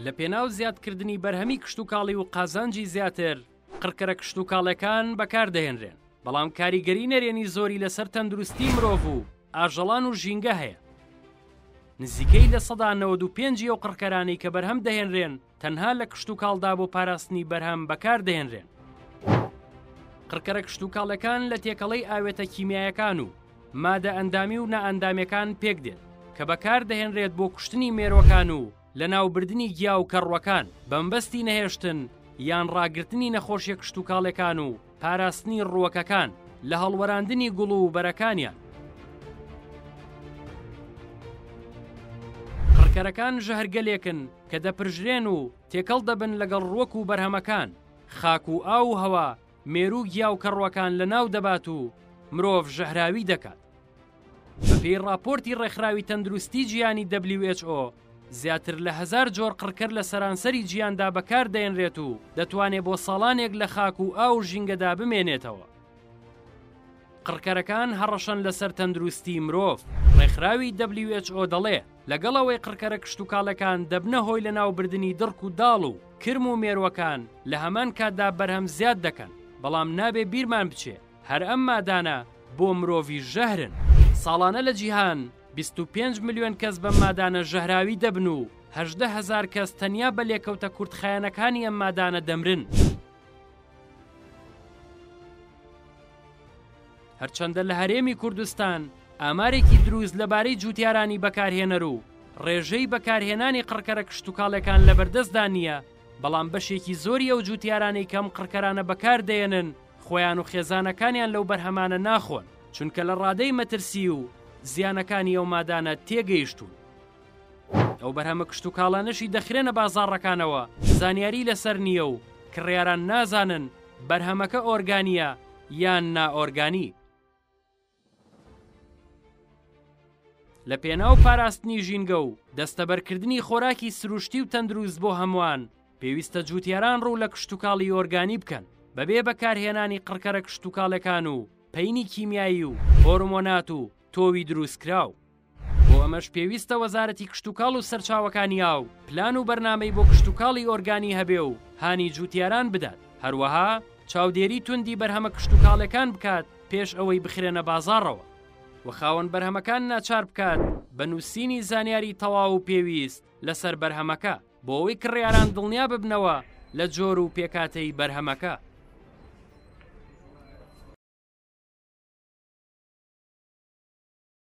لە پێناو زیادکردنی بەرهەمی کشتتوکاڵی و قازانجی زیاتر قڕکەرە کشتتوکاڵەکان بەکاردەهێنرێن بەڵام کاریگەری نەرێنی زۆری لەسەر تەندروستی مرۆڤ و ئاژەڵان و ژینگە هەیە نزیکەی لە سەدا 95 و قڕکەرانی کە بەرهەم دەهێنرێن تەنها لە کشتوکاڵدا بۆ پاراستنی بەرهەم بەکاردەهێنرێن. قڕکەرە کشتوکاڵەکان لە تێکەڵەی ئاوێتە کیمیایەکان و مادە ئەندامی و نائەندامەکان پێک دێت کە بەکار دەهێنرێت بۆ کوشتنی مێرۆکان و لە ناوبردنی گیا و کەڕوەکان بەمبەستی نەهێشتن یان ڕاگررتنی نەخۆشیە کشتوکاڵەکان و پاراستنی ڕووەکەکان لە هەڵوەراندنی گوڵ و بەرەکانیان قڕکەرەکان ژەهرگەلێکن کە دەپرژرێن و تێکەڵ دەبن لەگەڵ ڕووەک و بەرهەمەکان، خاک و ئاو و هەوا، مێروو گیا و کەڕووەکان لەناو دەبات و مرۆڤ ژەهراوی دەکات. بەپێی ڕاپۆرتی ڕێکخراوی تەندروستی جیهانی who زیاتر لە هەزار جۆر قڕکەر لە سەرانسەری جیهاندا بەکار دەێنرێت و دەتوانێت بۆ ساڵانێک لە خاک و ئاو و ژینگەدا بمێنێتەوە. قڕکەرەکان هەڕەشەن لەسەر تەندروستی مرۆڤ، ڕێکخراوی who دەڵێ، لەگەڵ ئەوەی قڕکەرە کشتوکاڵەکان دەبنە هۆی لەناوبردنی دڕک و داڵ و کرم و مێرووەکان لە هەمان کاتدا بەرهەم زیاد دەکەن، بەڵام نابێ بیرمان بچێ هەر ئەم مادانە بۆ مرۆڤیش ژەهرن. ساڵانە لە جیهان بیست و پێنج ملیۆن کەس بەم مادانە ژەهراوی دەبن و هەژدە هەزار کەس تەنیا بە لێکەوتە کورتخایەنەکانی ئەم مادانە دەمرن. هەرچەندە لە هەرێمی کوردستان ئامارێکی دروست لەبارەی جووتارانی بەکارهێنەر و ڕێژەی بەکارهێنانی قڕکەرە کشتتوکاڵەکان لە بەردەستدا نییە بەڵام بەشێکی زۆری ئەو جووتارانەی کەم قڕکەرانە بەکاردێنن خۆیان و خێزانەکانیان لەو بەرهەمانە ناخۆن چونکە لە ڕادەی مەترسی و زیانەکانی ئەو مادانە تێگەیشتوون ئەو بەرهەمە کشتوکاڵانەشی دەخرێنە بازاڕەکانەوە زانیاری لەسەر نییە و کڕیاران نازانن بەرهەمەکە ئۆرگانییە یان نا ئۆرگانی. لە پێناو پاراستنی ژینگە و دەستەبەرکردنی خۆراکی سروشتی و تەندروست بۆ هەمووان، پێویستە جووتیاران ڕوو لە کشتوکاڵی ئۆرگانی بکەن، بەبێ بەکارهێنانی قڕکەرە کشتوکاڵەکان و پەینی کیمیایی و هۆرمۆنات و تۆوی دروستکراو. بۆ ئەمەش پێویستە وەزارەتی کشتوکاڵ و سەرچاوەکانی ئاو پلان و بەرنامەی بۆ کشتوکاڵی ئۆرگانی هەبێ و هانی جووتیاران بدات، هەروەها چاودێری توندی بەرهەمە کشتوکاڵێکان بکات پێش ئەوەی بخرێنە بازاڕەوە و خاوەن بەرهەمەکان ناچار بکات بە نووسینی زانیاری تەواو و پێویست لەسەر بەرهەمەکە بۆ ئەوەی کڕیاران دڵنیا ببنەوە لە جۆر و پێکهاتەی بەرهەمەکە.